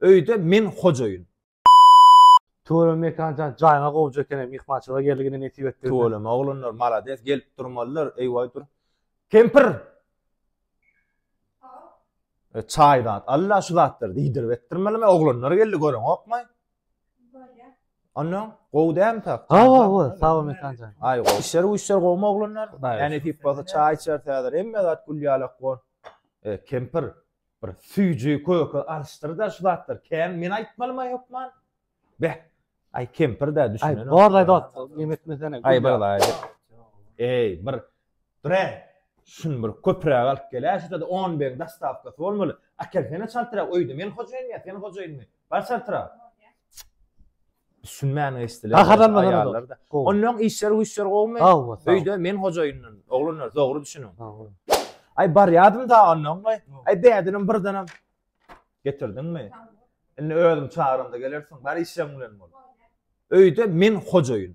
Öýde men hojaýyn. Tüweleme Mekanjan jaýyňa gowja ekeni myhmançylyga geldigine nesip etdigine. Tüweleme oglanlar malades gelip durmalylar eý waý dur. Kempir! E, çaý zat al-la şu zatlary diýdirip etdirmelimi oglanlar geldi göreňokmy? Bolýa. Ondan gowy dämi tak? Gowy gowy sag bol Mekanjan. Aý gowy. Işler güýçler gowumy oglanlar? Näme nesip bolsa çaý içeris häzir hemme zat gül ýalak bor. E, kempir! Bir süýji köke alyşdyr-da şu zatlary, kän men aýtmalyma hökman? Beh, aý kempir-dä düşünen. Aý, borlaý dost, ýene etmesene. Aý, borlaý. Eý, bir dur-ä, şuny bir köpräk alyp gel-ä, şuda-da on beriň dostawkasy bolmaly. Akelsene çaltrak, öýde men hojaýyn ýa sen hojaýynmy? Bar çaltrak. Düşünmän geçdiler. Gaharlanma aýallar da. Ondan işler güýçler gowmy? Öýde men hojaýyndan. Oglanlar dogry düşüniň. Aý barýadym da ondan goý. Aý bädinim birdenem getirdiňmi? Indi özüm çagyranda gelersiň. Bar işleň bilen bol. Öýde men hojaýyn.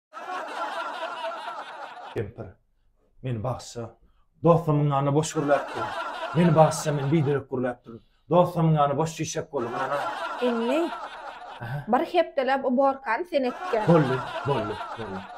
Kempir. Meni bagsja. Dostumyň ýanyna boş gürläp dur. Meni bagsja, men biderek gürläp durun. Dostumyň ýany boş çişek boldy, men ynha. Indi bir hepdeläp uborkany sen etgä. Boldy, boldy, boldy.